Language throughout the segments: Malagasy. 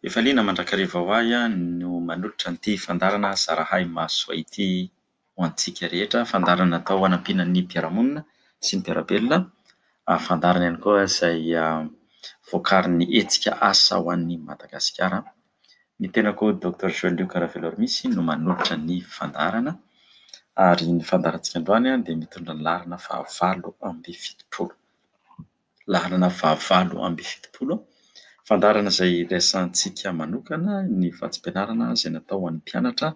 Efa liana mandrakariva ho ahy no manolotra an'ity fandaharana zarahay maso soa ity ho antsika rehetra. Fandaharana natao hanampiana ny mpiara-monina sy ny mpiara-belona. Fandaharana ihany koa izay vokarin'ny hetsika Asa ho an'i Madagasikara. Ny tenako Docteur Joël Luc Raveloarmisy no manolotra ny fandaharana ary ny fandaharantsika androany dia mitondra ny laharana fahavalo amby fitopolo. laharana fahavalo amby fitopolo, fandaharana izay resahantsika manokana ny vatsim-pianarana izay natao ho an'ny mpianatra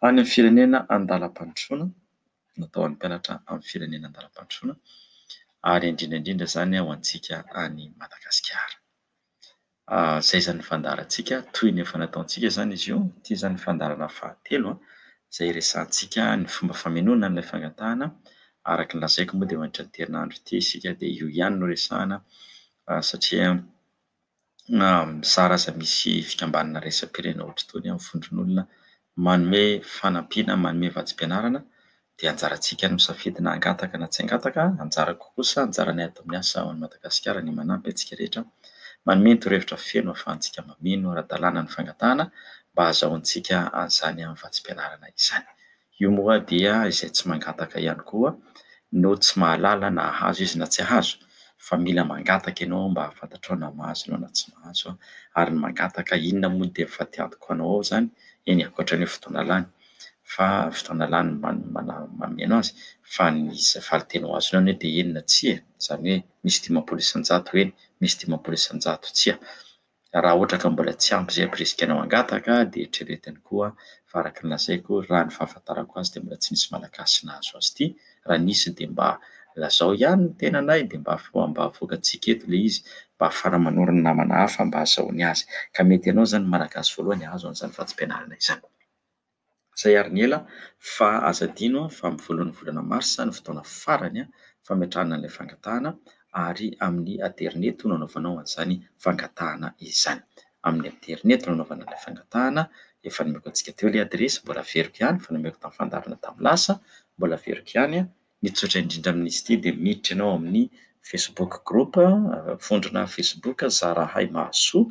any amin'ny firenena andalam-pandrosoana, natao ho an'ny mpianatra amin'ny firenena andalam-pandrosoana ary indrindra indrindra izany ho antsika any Madagasikara. Izay izany fandaharantsika, toy ny efa nataontsika izany izy io. Ity izany ny fandaharana fahatelo izay hiresahantsika ny fomba famenoana an'ilay fangatahana. Araka ny lazaiko moa dia eo anatrehan'ity herinandro ity isika dia io ihany no resahana satria mizara aza misy fikambanana iraisam-pirenena ohatr'itony amin'ny vondron'olona manome fanampiana, manome vatsim-pianarana dia anjarantsika ny misafidy na hangataka na tsy hangataka, anjarako kosa, anjaranay ato amin'ny asa ao any Madagasikara ny manampy antsika rehetra manome torohevitra feno ahafahantsika mameno ara-dalàna ny fangatahana mba hahazahoantsika an'izany amin'ny vatsim-pianarana izany. Io moa dia izay tsy mangataka ihany koa no tsy mahalala na hahazo izy na tsy hahazo fa mila mangataka ianao mba hahafantatrao na mahazo ianao na tsy mahazo ary ny mangataka inona moa dia mifatiantoka ho anao ao izany, eny ankoatran'io fotoana lany. fa fotoana lany mameno azy fa ny valinteny ho azony anie dia eny na tsia e, izany hoe misy dimampolo isan-jato eny, misy dimampolo isan-jato tsia. Raha ohatra ka mbola tsy ampy izay birisika anao hangataka dia eritreretiny koa fa araka ny lazaiko raha ny fahafantarako azy dia mbola tsy nisy malagasy nahazo azy ity, raha nisy dia mba lazao ihany ny tenanay dia mba afaka mba avoakantsika eto ilay izy mba hahafahana manoro ny namana hafa mba hahazahoany azy, ka mety ianao izany ny malagasy voalohany hahazo an'izany fadimpianarana izany. Izay ary ny ela fa aza adino fa amin'ny voalohan'ny volana marsa no fotoana farany fametrahana an'ilay fangatahana ary amin'ny aterineto no anaovanao an'izany fangatahana izany. Amin'ny aterineto no anaovana ilay fangatahana, efa nomeko antsika teo ilay adiresy, mbola averiko ihany, efa nomeko tamin'ny fandaharana tamin'ny lasa, mbola averiko ihany. Ny tsotra indrindra amin'izy ity dia miditra ianao amin'ny Facebook group, vondrona Facebook zara hay mahasoa,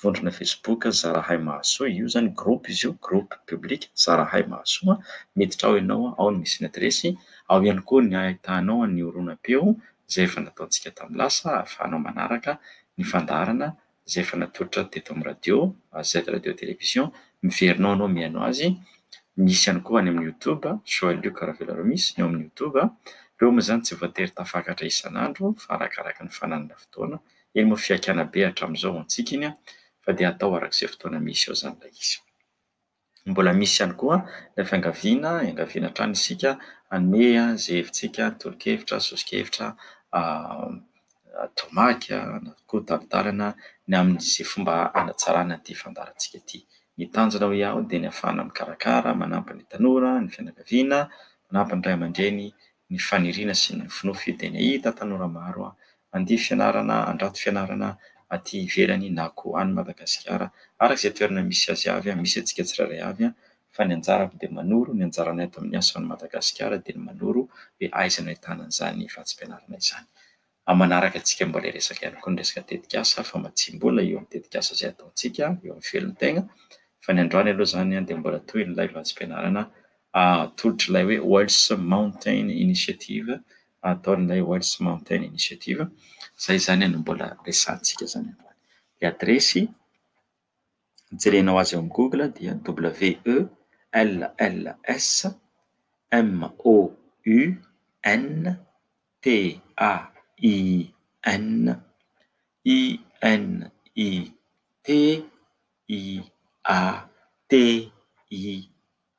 vondrona Facebook zara hay mahasoa, io zany groupe izy io, groupe public zara hay mahasoa, miditra ao ianao ao no misy ny adiresy, ao ihany koa ny ahitanao ny horonam-peo izay efa nataontsika tamin'ny lasa ahafahanao manaraka ny fandaharana izay efa natolotra teto amin'ny radio, AZ Radio et Télévision, miverina ao ianao mihaino azy, misy ihany koa any amin'ny YouTube, Joël Luc Ravelaraomisy ny ao amin'ny YouTube, ireo moa izany tsy voatery tafakatra isan'andro fa arakaraka ny fananana fotoana, eny moa fihaikana be hatramin'izao ho antsika iny fa dia atao arak'izay fotoana misy eo izany ilay izy. Mbola misy ihany koa ilay fiangaviana, iangaviana hatrany isika hanome izay hevitsika, tolo-kevitra, soso-kevitra, tomaky na koa tari-dalana ny amin'izay fomba hanatsarana ity fandaharantsika ity. Ny tanjona hoy aho dia ny hahafahana mikarakara, manampy ny tanora, ny fianakaviana, manampy ny ray aman-dreny, ny faniriana sy ny nofinofy dia ny hahita tanora maro. handeha fianarana handrato fianarana aty ivelany na koa any Madagasikara araka izay toerana misy azy avy, misy antsika tsirairay avy fa ny anjarako dia manoro, ny anjaranay ato amin'ny asa ao Madagasikara dia ny manoro hoe aiza no ahitana an'izany vatsim-pianarana izany. Amin'ny manaraka antsika mbola hiresaka ihany koa ny resaka tetikasa fa matsiam-bola eo amin'ny tetikasa izay ataontsika eo amin'ny velon-tegna fa ny androany aloha izany dia mbola tohin'ilay vatsim-pianarana atolotr'ilay hoe Wells Mountain Initiative ataon'ilay Wales Mountain Initiative, izay izany no mbola resahantsika izany androany. Ny adiresy hijerenao azy eo amin'ny google dia WLSMOUNTAININITIATE.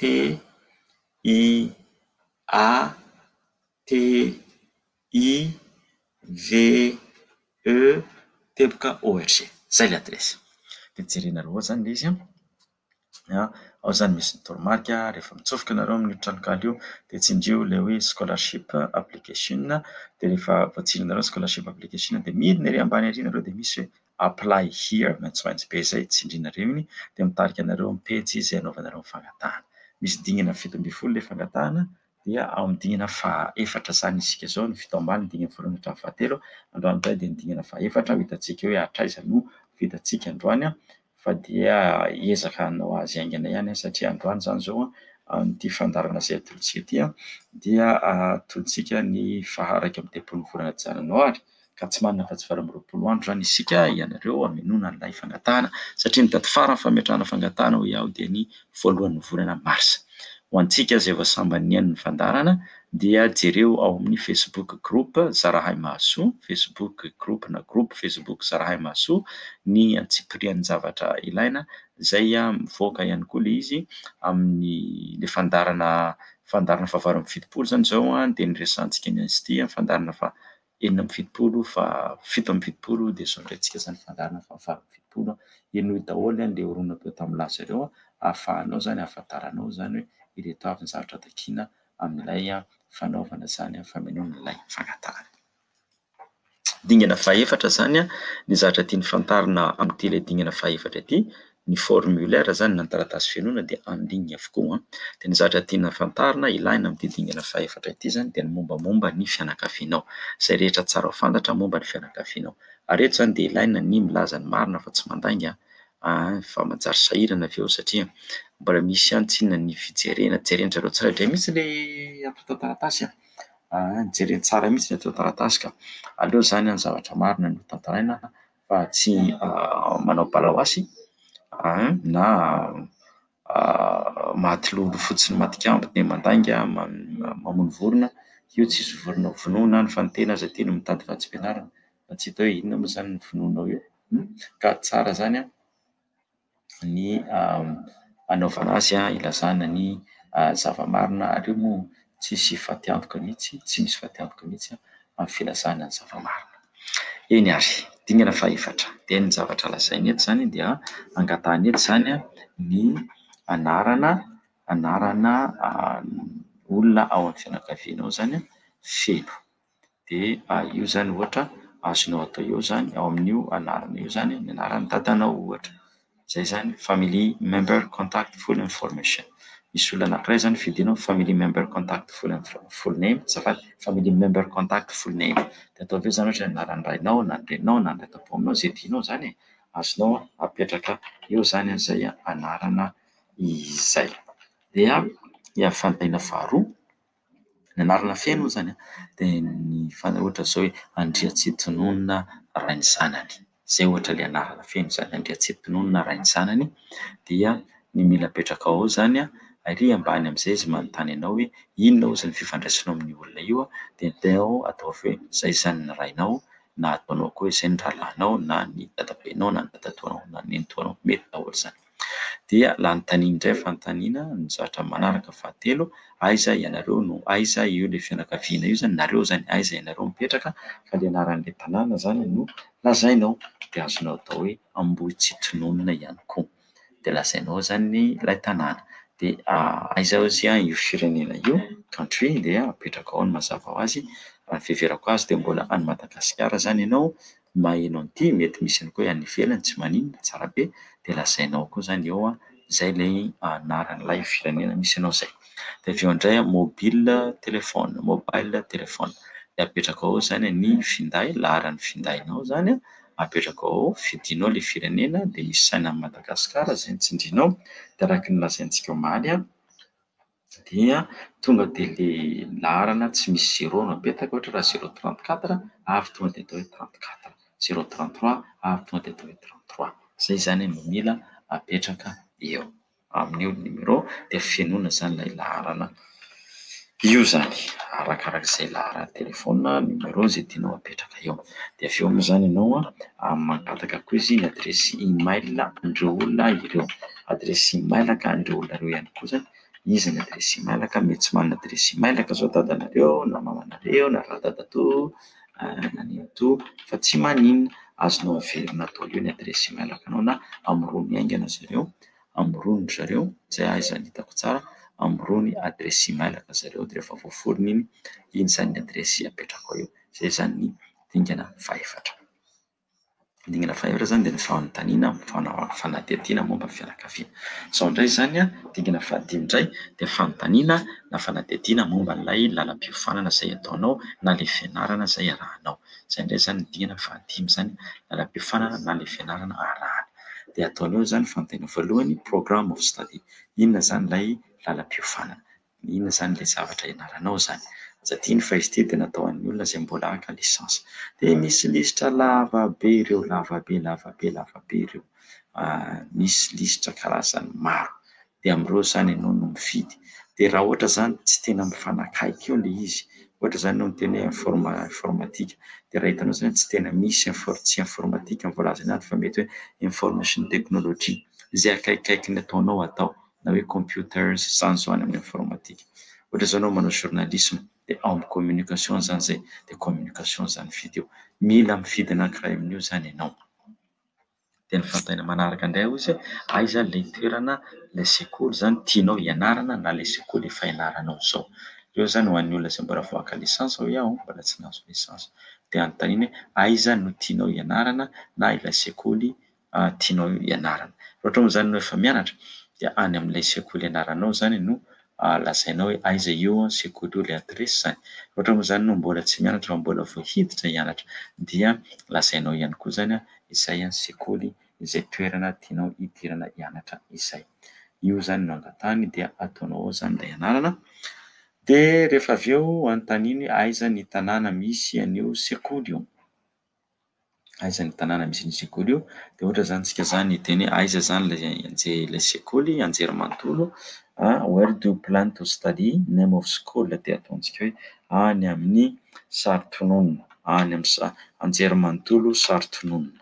TIATIVEEORG zay ilay adiresy dia jerena aloha izany ilay izy an, ao izany misy ny toromarika rehefa mitsofoka ianareo amin'io tranonkala io dia tsindrio ilay hoe scholarship application dia rehefa voatsindronareo ny scholarship application dia midina ery ambany ery ianareo dia misy hoe. Apply here, maitsomaitso be izay tsindrinareo iny dia mitarika anareo amin'ny pejy izay anaovanareo ny fangatahana. Misy dingana fito ambin'ny folo ilay fangatahana dia ao amin'ny dingana fahaefatra izany isika izao, ny fito ambany ny dingana voalohany hatramin'ny fahatelo, androany indray dia ny dingana fahaefatra ho hitantsika hoe hatraiza no vitantsika androany fa dia hiezaka hanao azy haingana ihany satria androany izany izao amin'ity fandaharana izay atolotsika ity dia atolotsika ny faha iraika amby telopolo ny volana janoary. ka tsy manana afa-tsy valo amby roapolo andro izany isika ianareo hamenoana an'ilay fangatahana satria ny daty farany fametrahana fangatahana hoy aho dia ny voalohan'ny volana marsa. Ho antsika izay vao sambany nihaino ny fandaharana dia jereo ao amin'ny Facebook group Zarahay Mahasoa, Facebook group na groupe Facebook Zarahay Mahasoa ny antsipirian'ny zavatra ilaina izay mivoaka ihany koa ilay izy amin'ny ilay fandaharana fandaharana fahavalo amby fitopolo izany izao dia ny resahantsika ny an'ity fandaharana fa enina amby fitopolo fa fito amby fitopolo dia zao indray tsika izany fandaharana fa valo amby fitopolo a, henoy daholo an le horonana teo tamin'ny laza ireo an, ahafahanao izany ahafantaranao izany hoe ireto avy ny zavatra takiana amin'ilay fanaovana izany famonoana ilay fangatahana. Dingana faha efatra izany an, ny zavatra tiany fantarina amin'ity ilay dingana faha efatra ity ny formulaire izany na ny taratasy fenoina dia en ligne avokoa an! dia ny zavatra tiana fantarina ilaina amin'ity dingana fahefatra ity izany dia ny mombamomba ny fianakavianao, izay rehetra tsara fantatra momba ny fianakavianao, ary eto izany dia ilaina ny milaza ny marina fa tsy mandainga an! fa manjary sahirana avy eo satria mbola misy ihany tsinona ny fijerena, jeren-dry zareo tsirairay mihintsy ilay ato an-taratasy an! jereny tsara mihintsy ny ato an-taratasy ka! aleo izany an! ny zavatra marina no tantaraina an! fa tsy manao balaoasy na matilolo fotsiny matikambo dia mandainga mamono vorona, io tsisy vorona ho vonoina any fa ny tena aza ity no mitady vatsim-pianarana fa tsy hita hoe inona moa izany no vonoinao eo ka tsara izany an! ny anaovana azy, hilazana ny zava-marina. Ary io moa tsy hisy fatiantoka mihitsy, tsy misy fatiantoka mihitsy amin'ny filazana ny zava-marina. Eny ary, dingana fahefatra, dia ny zavatra lazainy eto izany dia angatahiny eto izany ny anarana anarana olona ao amin'ny fianakavianao izany feno. dia io izany ohatra azonao atao eo izany ao amin'io anarana io izany ny anaran'ny dadanao ohatra. Izay izany family member contact full information. Misy olona anankiray izany fidinao ny family member contact full info- full name azafady, family member contact full name. Dia ataovy eo izany ohatra ny anaran'ny rainao na ny reninao na ny dadaponinao izay tianao izany e. Azonao apetraka eo izany izay anarana izay. Dia ny fantahiana faharoa. Ny anarana feno moa izany an, dia ny fanao ohatra izao hoe Andriantsitonona Rainizanany. Izay ohatra ilay anarana feno izany, Andriantsitonona Rainizanany. Dia ny mila apetraka ao izany an, ary ambany amin'izay izy manontany anao hoe inona hozy ny fifandraisanao amin'io olona io? Dia teo ataovy hoe izay izany ny rainao, na ataonao koa hoe izay ny rahalahinao, na ny dadabenao, na ny dadatoanao, na ny nenitoanao. Mety daholo izany. Dia lany tanin indray fanontaniana no zatra manaraka fahatelo, aiza ianareo no aiza io le fianakaviana io zany nareo zany aiza ianareo mipetraka fa le anaran'le tanàna zany no lazainao dia azonao atao hoe Ambohitsitononina ihany koa dia lazainao zany ny ilay tanàna dia aiza ozy an io firenena io country dia apetraka ao ny mazava ho azy raha ny fiheverako azy dia mbola any Madagasikara zany ianao maheno an'ity mety misy ihany koa any ivelany tsy maninona tsara be dia lazainao koa izany eo an izay ilay anaran'ilay firenena misy anao izay dia avy eo indray an mobile telephone mobile telephone dia apetraka ao izany ny finday laharan'ny findainao izany an apetraka ao fidinao ilay firenena dia misy saina an'i Madagasikara izay ny tsindrinao dia araka ny lazaintsika omaly an dia tonga dia ilay laharana tsy misy zéro no apetaka, ohatra raha zéro trente quatre ary tonga dia atao hoe trente quatre, zéro trente trois ary tonga dia atao hoe trente trois. Izay izany no mila apetraka eo amin'io numéro dia fenoina izany ilay laharana io izany, arakaraka izay laharan'ny telefaonina, numéro, izay tianao apetraka eo. Dia avy eo moa izany ianao an, mankataka koa izy ny adiresy email an'ireo olona ireo. Adiresy imailaka an'ireo olona ireo ihany koa izany, izy ny adiresy imailaka, mety tsy manana adiresy imailaka izao dadanareo na mamanareo na radadatoa na nenitoa fa tsy maninona, azonao averina atao eo ny adiresy imailakanao na amorony haingana zareo, amorony ry zareo izay ahy izany hitako tsara, amorony adiresy imailaka zareo dia rehefa voaforona iny, iny izany ny adiresy apetrako eo. Izay izany ny dingana fahefatra. Dingana fahaefatra izany dia ny fanontaniana amin'ny fanadihadiana momba ny fianakaviana. Izao indray izany an, dingana fahadimy indray dia fanontaniana na fanadihadiana momba ilay lalam-piofanana izay ataonao na ilay fianarana izay arahanao. Izay indray izany ny dingana fahadimy izany, lalam-piofanana na ilay fianarana arahana. Dia ataonao izany fanontaniana voalohany, program of study, inona izany ilay lalam-piofanana. Inona izany ilay zavatra ianaranao izany? Aza adino fa izy ity dia natao ho an'ny olona izay mbola haka licence. Dia misy lisitra lava be ireo, lava be, lava be, lava be ireo. Misy lisitra karazany maro. Dia amin'ireo izany ianao no mifidy. Dia raha ohatra izany tsy tena mifanakaiky eo ilay izy, ohatra izany ianao miteny hoe informa- informatika, dia raha hitanao izany tsy tena misy infor- tsy informatika no voalaza anaty fa mety hoe information technology, izay akaikikaiky ny ataonao atao. na hoe computers izany izao any amin'ny informatika. Ohatra izao ianao manao journalisme dia ao amin'ny communication izany izay dia communication izany mifidy eo. Mila mifidy anankiray amin'io izany ianao. Dia ny fanontaniana manaraka indray hozy hoe aiza ilay toerana ilay sekoly izany tianao hianarana na ilay sekoly efa ianaranao izao. Ireo izany ho an'ny olona izay mbola vao haka licence hoy aho, mbola tsy nahazo licence. Dia anontaniana hoe aiza no tianao hianarana na ilay sekoly tianao ianarana. Raha ohatra moa izany ianao efa mianatra dia any amin'ilay sekoly ianaranao izany no lazainao hoe aiza io sekoly io, ilay adiresy izany. Raha ohatra moa izany ianao mbola tsy mianatra fa mbola vao hiditra hianatra dia lazainao ihany koa izany izay sekoly, izay toerana tianao hidirana hianatra izay. Io izany no angatahany dia ataonao ao izany ilay ianarana. Dia rehefa avy eo anontaniny aiza ny tanàna misy an'io sekoly io. Aiza ny tanàna misy ny sekoly io? Dia ohatra izany isika izany hiteny hoe aiza izany ilay sekoly Anjerimanontolo a where do you plan to study? name of school dia ataontsika hoe any amin'ny Saritonona any amin'ny sa- Anjerimanontolo Saritonona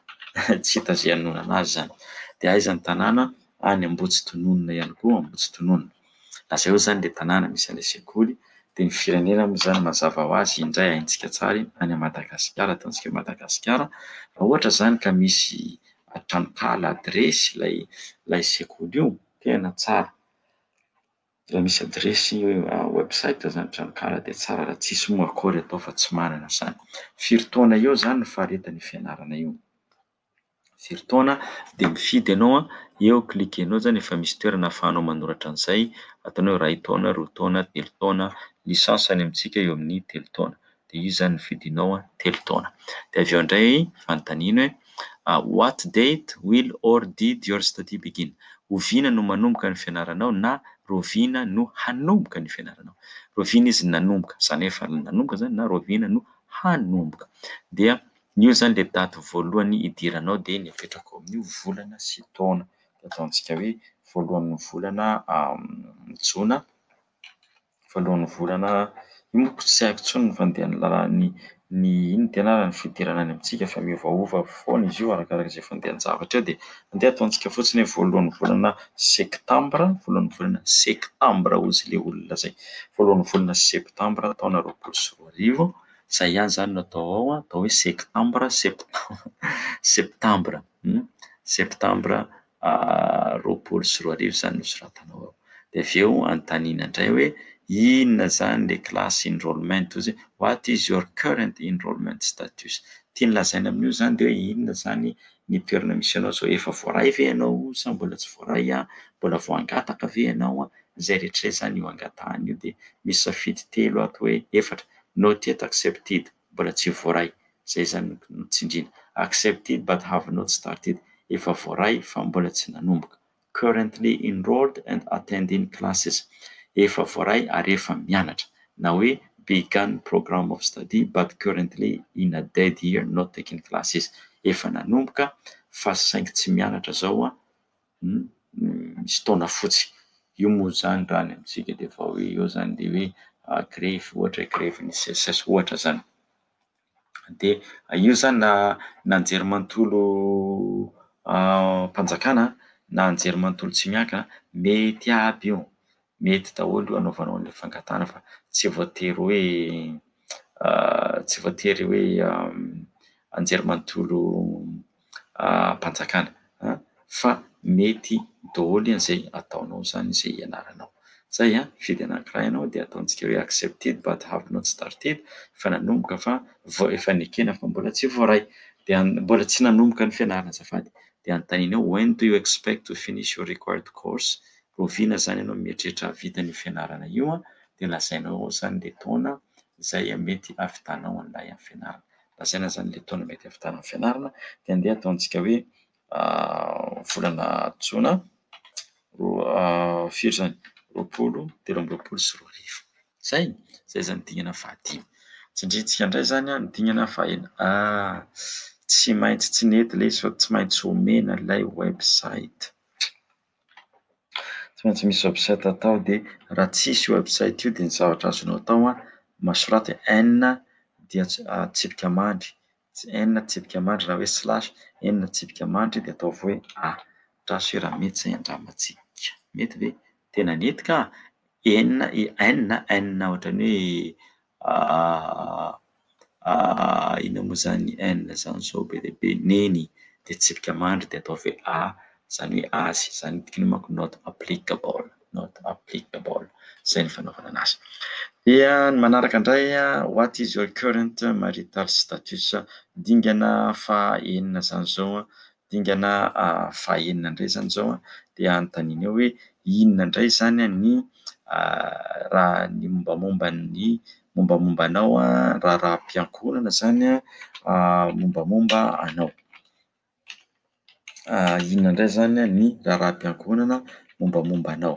tsy hita izay hanonona anazy izany dia aiza ny tanàna any Ambohitsitonona ihany koa Ambohitsitonona Lazaio izany ilay tanàna misy an'ilay sekoly, dia ny firenena moa izany mazava ho azy indray haintsika tsara iny any Madagasikara, ataontsika hoe Madagasikara, raha ohatra izany ka misy tranonkala, adiresy ilay ilay sekoly io, tena tsara. Raha misy adiresy website izany tranonkala dia tsara raha tsisy moa akory atao fa tsy manana izany. Firy taona eo izany no faharetan'io fianarana io? very taona dia mifidy ianao eo cliquer-nao izany efa misy toerana ahafahanao manoratra an'izay ataonao hoe iray taona, roa taona, telo taona, ny sasany amintsika eo amin'ny telo taona dia izy izany ny fidinao hoe telo taona dia avy eo indray fanontaniana hoe what date will or did your study begin? oviana no manomboka ny fianaranao na oviana no hanomboka ny fianaranao? oviana izy nanomboka izany hoe efa nanomboka izany na oviana no hanomboka dia Ny eo zany le daty voalohany idiranao dia ny apetrako ao amin'io volana sy taona dia ataontsika hoe voalohan'ny volana jona voalohan'ny volana io manko tsy haiko intsony ny fandehan'ny lalàn'ny ny inona ty anarany ny fidirana any amintsika fa miovaova foana izy io arakaraka izay fandehan-javatra eo dia andeha ataontsika fotsiny hoe voalohan'ny volana sektambra voalohan'ny volana sektambra hozy le olona zay voalohan'ny volana sektambra taona roapolo sy roa arivo Izay ihany izany no atao ao, atao hoe sektambra, septambra, septambra roapolo sy roa arivo izany no soratanao ao. Dia avy eo anontaniana indray hoe inona izany ilay class enrollment hoy izy hoe what is your current enrollment status? Tiany lazaina amin'io izany dia hoe inona izany ny toerana misy anao izao, efa voaray ve ianao sa mbola tsy voaray, mbola vao hangataka ve ianao, izay rehetra izay izany io hangatahana io dia misy safidy telo ato hoe efatra, Not yet accepted, mbola tsy voaray, izay izany no tsindriana. Accepted but have not started, efa voaray fa mbola tsy nanomboka. Currently enrolled and attending classes, efa voaray ary efa mianatra. Na hoe begun program of study but currently in a dead year not taking classes, efa nanomboka fa saingy tsy mianatra izao an, misy taona fotsy. Io moa izany raha any amintsika dia efa hoe eo izany dia hoe grevy ohatra hoe grevin'ny CSS ohatra izany. Dia io izany na na anjerimanontolo am-panjakana na anjerimanontolo tsy miankina mety aby io. mety daholo io anaovanao an'ilay fangatahana fa tsy voatery hoe tsy voatery hoe anjerimanontolo am-panjakana an, fa mety daholo izay ataonao izany izay ianaranao. Izay an, mifidy anankiray ianao dia ataontsika hoe accepted but have not started, efa nanomboka fa vao efa nekena fa mbola tsy voaray, dia mbola tsy nanomboka ny fianarana azafady, dia anontanianao when do you expect to finish your required course, Rahoviana izany ianao mieritreritra hahavita an'io fianarana io an, dia lazainao ao izany ilay taona izay mety hahavitanao an'ilay amin'ny fianarana. Lazaina izany ilay taona mety hahavitana amin'ny fianarana dia andeha ataontsika hoe volana jona roa firy izany? roapolo, telo amby roapolo sy roa arivo. Izay? Izay izany dingana fahadimy. Tsindrintsika indray izany ny dingana fahenina. Ah! Tsy maintsy tsy nety ilay izy fa tsy maintsy omena ilay website. tsy maintsy misy website atao dia raha tsisy io website io dia ny zavatra azonao atao an, masoratry en dia atsipika mandry, en atsipika mandry raha hoe slash, en atsipika mandry dia ataovy hoe a, andraso hoe raha mety izay andramantsika, mety ve? tena mety kah! en i en, en ohatran'ny hoe. Aah aah inona moa izany N izany sao be dia be Neny dia tsipika mandry dia atao ve A izany hoe azy izany ny dikany manko not applicable not applicable izay ny fanaovana anazy dia ny manaraka indray what is your current marital status dingana faha enina izany izao dingana fahaenina indray izany izao dia anontanianao hoe inona indray izany ny raha ny mombamomba ny mombamomba anao raharaham-piankohonana izany mombamomba anao. Inona indray izany ny raharaham-piankohonana mombamomba anao.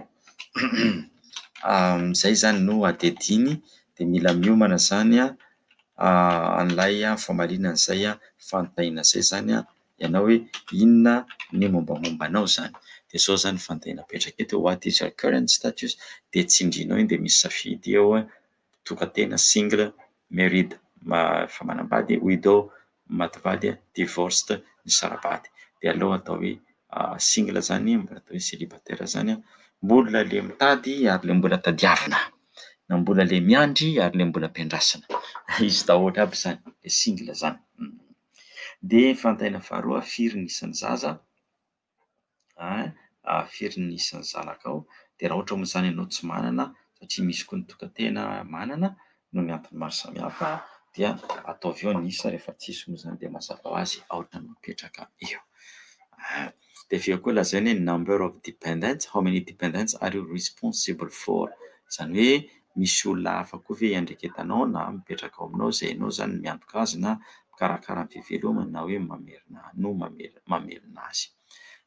Izay izany no adihadiany dia mila miomana izany an'ilay famarinana izay fantaina izay izany ianao hoe inona ny mombamomba anao izany. Dia izao izany ny fantaina apetraka eto hoe what is your current status dia tsindrinao iny dia misy safidy eo hoe tokan-tena, single, married, efa manambady, widowed, maty vady a, divorced, nisara-bady, dia aleo atao hoe single zany, mbola atao hoe celibataire zany a, mbola le mitady ary le mbola tadiavina, na mbola le miandry ary le mbola ampiandrasina, izy daholo aby zany le single zany, de fanontaniana faharoa firy ny isan'ny zaza? an, firy ny isan'ny zanakao, dia raha ohatra moa izany ianao tsy manana, satria misy koa ny tokan-tena manana, noho ny antony maro samihafa, dia ataovy eo ny isa rehefa tsisy moa izany dia mazava ho azy aoka ny mipetraka eo. Dia avy eo koa lazaina hoe number of dependents, how many dependents are you responsible for, izany hoe misy olona hafa koa ve iandraiketanao na mipetraka ao aminao izay ianao izany no miantoka azy na mikarakara ny fivelomany na hoe mamerina no mamelona azy.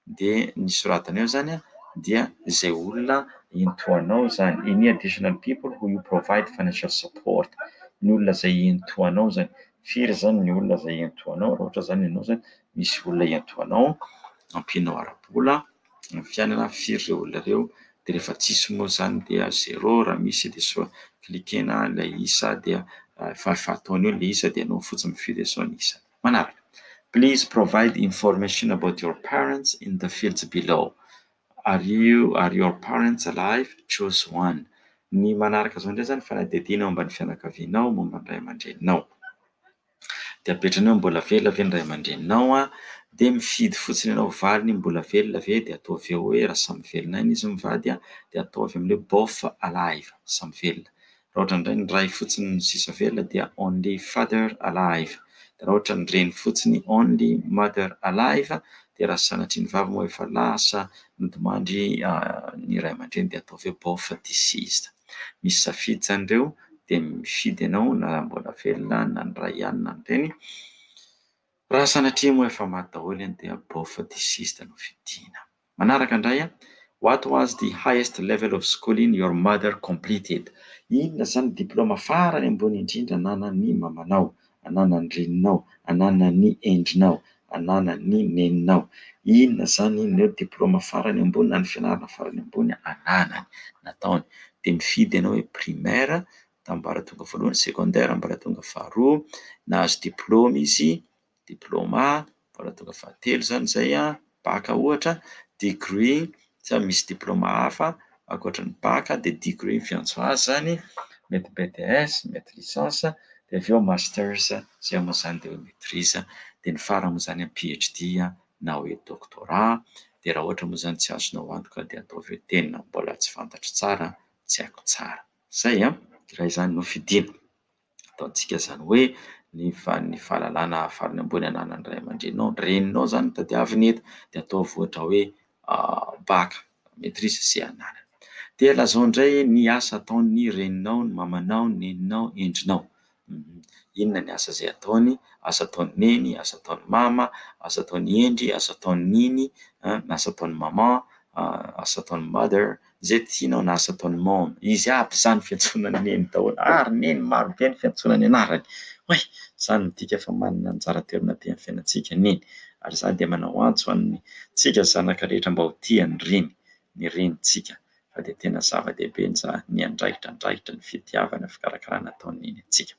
Dia ny soratanao eo izany dia izay olona iantohanao izany. Any additional people who you provide financial support. Ny olona izay iantohanao izany. Firy izany ny olona izay iantohanao raha ohatra izany ianao izany misy olona iantohanao ampianao ara-bola. ny fiainana firy ireo olona ireo dia rehefa tsisy moa izany dia zéro raha misy dia sao cliquer-na ilay isa dia efa efa-taona eo ilay isa dia enao fotsiny mifidy hoe zao ny isa manaraka please provide information about your parents in the fields below are you are your parents alive choose one ny manaraka izao indray izany fanadihadiana momba ny fianakavianao momba ny ray aman-dreninao Dia apetrany eo ny mbola velona ve ny ray aman-dreninao an! Dia mifidy fotsiny ianao valiny mbola velona ve dia ataovy eo hoe raha samy velona aina izy mivady an! dia ataovy amin'ny hoe bof alive samy velona! raha ohatra indray ny ray fotsiny no sisa velona dia only father alive! dia raha ohatra ny reny fotsiny only mother alive! dia raha sanatria ny vavy moa efa lasa nodimandry ny ray aman-dreny dia ataovy hoe bof deceased. Misy safidy izany ireo dia mifidy ianao na raha mbola velona na ny ray ihany na ny reny. Raha sanatria moa efa maty daholo ianao dia bof deceased no fidiana. Manaraka indray an, what was the highest level of schooling your mother completed? Inona izany diplaoma farany ambony indrindra ananan'ny mamanao? Ananan'ny reninao, ananan'ny endrinao, ananan'ny neninao. Inona izany? Inona eo? Diplaoma farany ambony na ny fianarana farany ambony ananany, nataony. Dia mifidy ianao hoe primaire, ambaratonga voalohany, secondaire, ambaratonga faharoa, nahazo diplaoma izy, diplaoma. mbola tonga fahatelo izany izay an, bac ohatra, degré sa misy diplaoma hafa ankoatra ny bac dia degré ny fiantso azy izany, mety BTS, mety licence, dia avy eo masters izay moa izany dia maitrise, dia ny farany moa izany PHD na hoe doctorat, dia raha ohatra moa izany tsy azonao antoka dia ataovy hoe tena mbola tsy fantatro tsara, tsy haiko tsara. Izay an, raha izany no fidiana. Ataontsika izany hoe ny ny fahalalana farany ambony ananan'ny ray aman-dreninao, ny reninao izany no tadiaviny eto, dia ataovy ohatra hoe bac, maitrise sy anarana. Dia lazao indray ny asa ataon'ny reninao, ny mamanao, ny neninao, ny endrinao. Inona ny asa izay ataony, asa ataon'i neny, asa ataon'i mama, asa ataon'i hendry, asa ataon'i neny, asa ataon'i maman, asa ataon'i mother. Izay tianao na asa ataon'i Mama. Izy aby izany fiantsoana an'i Neny daholo. Ah ry Neny, maro be ny fiantsoana ny anarany. Oay! Izany midika fa manana anjara toerana be amin'ny fiainantsika Neny. Ary izany dia manao antso an'ny tsika zanaka rehetra mba ho tia ny Reny, ny Renintsika. Fa dia tena zava-dehibe ny za, ny andraikitra, andraikitra ny fitiavana, fikarakarana ataon'i Neny antsika.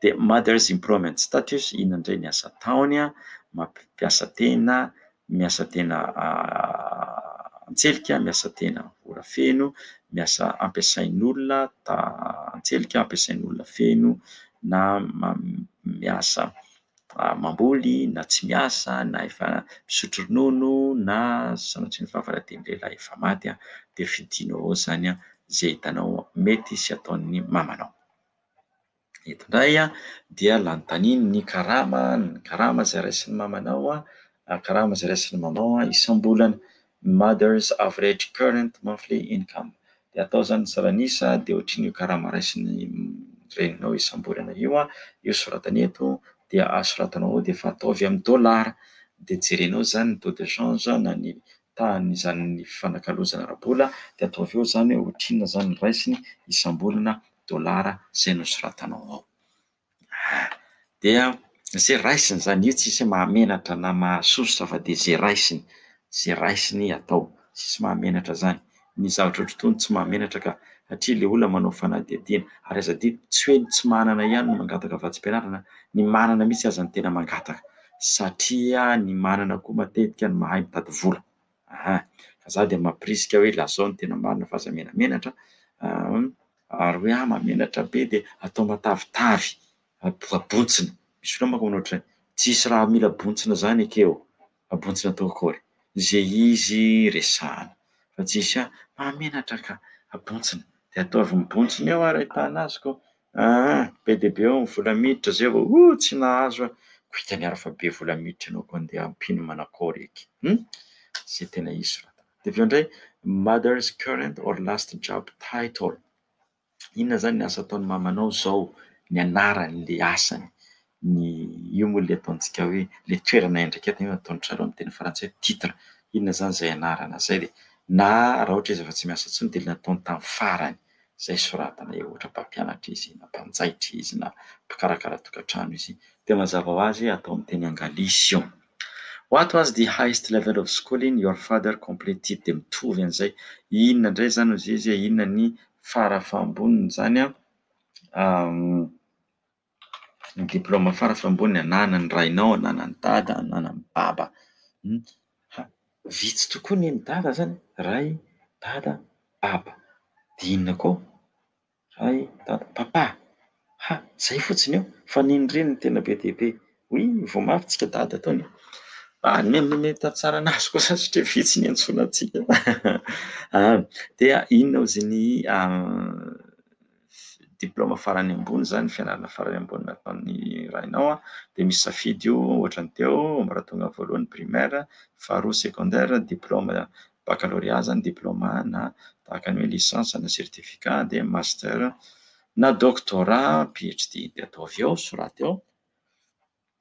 Dia Mother's Improvement Status, iny indray ny asa ataony, mampiasa tena, miasa tena an-tselika, miasa tena ora feno, miasa ampiasain'olona an-tselika, ampiasain'olona feno na miasa mamboly na tsy miasa na efa misotro ronono na sanatria ny fahavaraten'ny lehilahy efa maty dia fidinao ao izany izay hitanao mety sy ataon'ny mamanao. Eto indray dia nanontaniany ny karama, ny karama izay raisin'ny mamanao, karama izay raisin'ny mamanao isam-bolana, ny mother's average current monthly income. Dia atao izany ny salan'isa dia ohatran'io karama raisin'ny reninao isam-bolana io, io soratany eto dia asoratanao ao dia efa ataovy amin'ny dolara, dia jerenao izany ny taux de change na ny tahan'izany fifanakalozana ara-bola dia ataovy eo izany hoe ohatrinona izany ny raisiny isam-bolana dolara izay nosoratanao ao. Ah! Dia izay raisiny izany, io tsisy hoe mahamenatra na mahasosotra fa dia izay raisiny, izay raisiny atao. Tsisy mahamenatra izany. Ny zavatra ohatr'itony tsy mahamenatra ka, satria ilay olona manao fanadihadiana. Ary aza adino, tsy hoe ny tsy manana ihany no mangataka vatsim-pianarana, ny manana mihitsy aza no tena mangataka, satria ny manana koa matetika no mahay mitady vola. Aha, fa za dia mampirisika hoe lazao ny tena marina fa aza menamenatra an! ary hoe ahy mahamenatra be dia atao matavitavy, abontsina, misy fotoana manko manao ohatr'izay, tsisy raha mila bontsina zany eke ô, abontsina atao akory ze izy resahana fa tsisy ahy mahamenatra ka, abontsina, de ataovy mibontsina eo ary ahitana azy kô, Aa! be dia be ny vola miditra zay vao ooh tsy nahazo a! ko hitany ary fa be vola miditra ianao ko andeha ampino manakôry eky hum! zay tena hisy soratana dia avy eo indray mother's current or last job title inona zany ny asa ataon'ny mamanao zao ny anaran'le asany ny io moa ilay ataontsika hoe ilay toerana iandraiketana io ataon-dry zareo amin'ny teny frantsay hoe titre, inona izany izay anarana izay dia na raha ohatra izy efa tsy miasa intsony dia ilay nataony tamin'ny farany izay soratana eo ohatra mpampianatra izy na mpanjaitra izy na mpikarakara tokantrano izy dia mazava ho azy atao amin'ny teny angalisy io what was the highest level of schooling your father completed dia mitovy an'izay inona indray izany hozizy e? inona ny fara fahambonin'izany an? ny diplaoma farafy ambony ananan'ny rainao, ananan'ny dada, ananan'ny baba. Vitsy tokoa ny an'ny dada izany, ray, dada, baba. Dia inona koa? Ray, dada, papa. Ha! Izay fotsiny eo fa ny an'ny reny no tena be dia be. Hoy vao mafy tsika dada tao an! Hanome hanome tantsaha an'azy kosa satria vitsy ny iantsoana antsika. Dia inona hozy ny diplaoma farany ambony zany, fianarana farany ambony nataon'ny rainao an, dia misy safidy io ohatra ny teo ambaratonga voalohany primaire, faharoa secondaire, diplaoma baccalauréat zany, diplaoma na tahaka ny hoe licence na certificat dia master na doctorat, phd dia ataovy eo, soraty eo.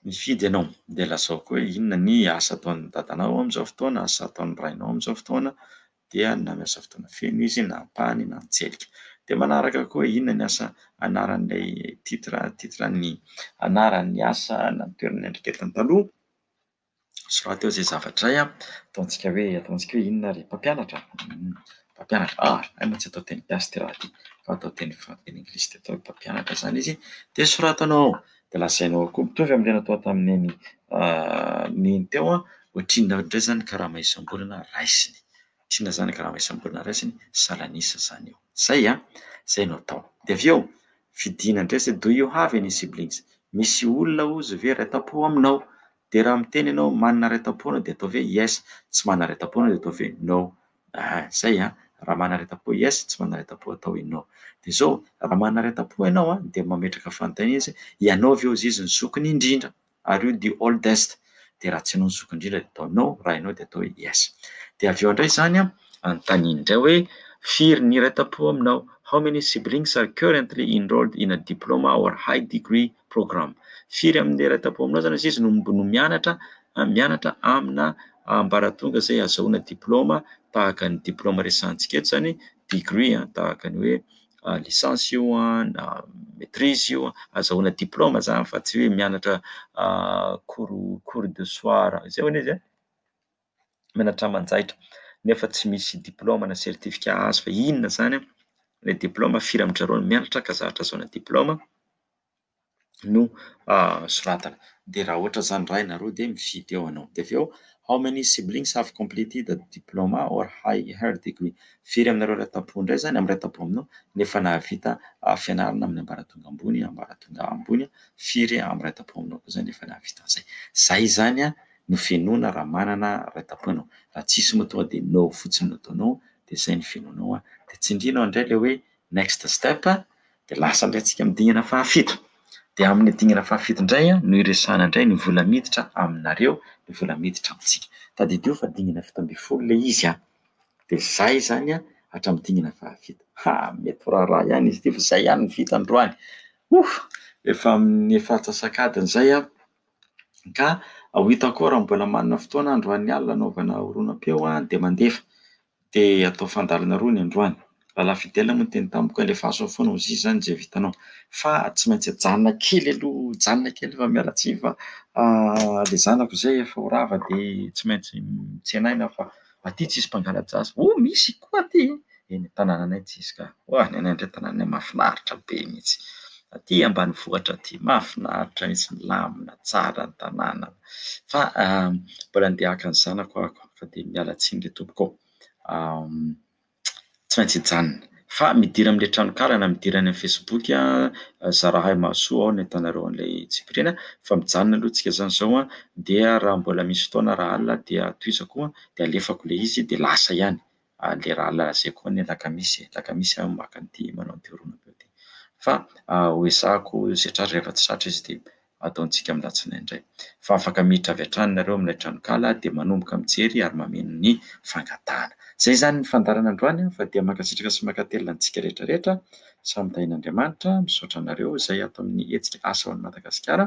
Mifidy ianao, dia lazao koa hoe inona ny asa ataon'ny dadanao amin'izao fotoana, asa ataon'ny rainao amin'izao fotoana, dia na miasa fotoana feno izy na ampahany na an-tselika. Dia manaraka koa hoe inona ny asa anaran'ilay titre, titre ny anaran'ny asa na ny toerana niandraiketany taloha. Soraty eo izay zavatra iray an, ataontsika hoe ataontsika hoe inona ary? Mpampianatra? Mpampianatra, ah, hay moa tsy atao teny gasy ity raha ity fa atao teny fran- teny anglisy dia atao hoe mpampianatra izany izy, dia soratanao ao, dia lazainao ao koa mitovy amin'ny teny atao tamin'ny neny neny teo an, ohatrinona ohatrin'izay izany ny karama isam-bolana raisiny. Tsy na zanaka na raisambolana ray zany salanisa zany eo. Zay an! Zay no atao. Dia avy eo fidiana ndray zay do you have any siblings? Misy olona ozy ve raitampo aminao? Dia raha miteny ianao manana raitampo ianao dia atao ve yes, tsy manana raitampo ianao dia atao ve no. Aa zay an! Raha manana raitampo yes, tsy manana raitampo atao hoe no. Dia zao, raha manana raitampo ianao an, dia mametraka fanontaniana izy hoe, ianao ve ozy izy ny zokiny indrindra? ary io the oldest dia raha tsy ianao ny zoky indrindra dia atao no raha ianao dia atao yes dia avy eo indray izany a anontaniany indray hoe firy ny iray tam-po aminao how many siblings are currently enrolled in a diploma or high degree program firy amin'ny iray tam-po aminao izany azizy no no mianatra mianatra amina ambaratonga izay azahoana diplaoma tahaka ny diplaoma resantsika eto izany degree a tahaka ny hoe licence io na maitrise io azahoana diploma zany fa tsy hoe mianatra cours cours de soir zay hono izy a, mianatra aman-jaitra nefa tsy misy diploma na certificat azo fa inona zany ilay diploma, firy amin-dry zareo no mianatra ka zahatra azahoana diploma. no soratana. Dia raha ohatra izany iray na roa dia mifidy eo ianao. Dia avy eo, how many siblings have completed the diploma or higher degree? Firy aminareo iray tampo indray izany, amin'ny iray tampo aminao, no efa nahavita fianarana amin'ny ambaratonga ambony, ambaratonga ambony. Firy amin'ny iray tampo aminao kosa no efa nahavita an'izay. Izay izany no fenoana raha manana iray tampo ianao. Raha tsisy moa tonga dia no fotsiny no ataonao, dia izay no fenoanao. Dia tsindrianao indray ilay hoe. Next step, dia lasa indray tsika amin'ny dingana fahafito. Dia amin'ny dingana fahafito indray no iresahana indray ny vola miditra aminareo, ny vola miditra amintsika. Tadidio fa dingana fito ambin'ny folo ilay izy an! Dia izay izany an, hatramin'ny dingana fahafito. Ha, mety ho raharaha ihany izy ity fa izay ihany no vita androany. Ouh! Efa amin'ny efa antsasak'adiny izay aho ka ho hitako ao raha mbola manana fotoana androany alina hanaovana horonam-peo dia mandefa. Dia hatao fandalana roa ny androany. Rahalahy Fidèle moa niteny tamiko hoe alefaso ao foana hozizy izany izay vitanao. Fa tsy maintsy ajanona kely aloha, ajanona kely fa miala tsiny fa ilay zanako izay efa ho rava dia tsy maintsy mitsenaina aho fa aty tsisy mpangala-jaza. Oh misy koa aty! Eny an-tanànanay tsisy ka. Oa ny anay indray tanànanay mahafinaritra be mihitsy. Aty ambanivohitra aty, mahafinaritra mihitsy, milamina, tsara ny tanàna. fa mbola andeha haka ny zanako aho ko fa dia miala tsiny re tompoko tsy maintsy hijanona fa midira amin'ny le tranokala na midira any amin'ny facebook aho zarahay mahasoa ao ny ahitanareo an'ilay tsipiriana fa mijanona aloha tsika zany zao an dia raha mbola misy fotoana raha alina dia tohizako dia alefako le izy dia lasa ihany le raha laser koa anie lakamisy e, lakamisy aho maka an'ity manao an'ity horonam-peo ity. Fa hoezahako setra azy rehefa tsy zatra izy dia ataontsika amin'ny alatsinainy indray. Fa afaka miditra avy hatrany nareo amin'ilay tranonkala dia manomboka mijery ary mameno ny fangatahana. Izay izany ny fandaharana androany an, fa dia mankasitraka sy mankatelina antsika rehetra rehetra, samy tahian'Andriamanitra, misaotra anareo izay ato amin'ny hetsika Asa ho an'i Madagasikara.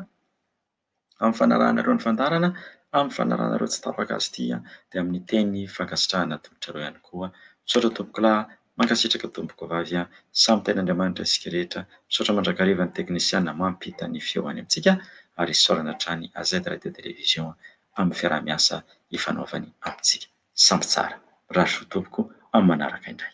amin'ny fanarahanareo ny fandaharana, amin'ny fanarahanareo tsy tapaka azy ity dia amin'ny teny fankasitrahana tolotrareo ihany koa. Misaotra tompokolahy, mankasitraka tompokovavy, samy tahian'Andriamanitra isika rehetra. Misaotra mandrakariva ny teknisiana mampita ny feo any amintsika ary isaorana hatrany AZ Radio Télévision amin'ny fiaraha-miasa ifanaovany amintsika. Sampy tsara. Rasoa tompoko amin'ny manaraka indray.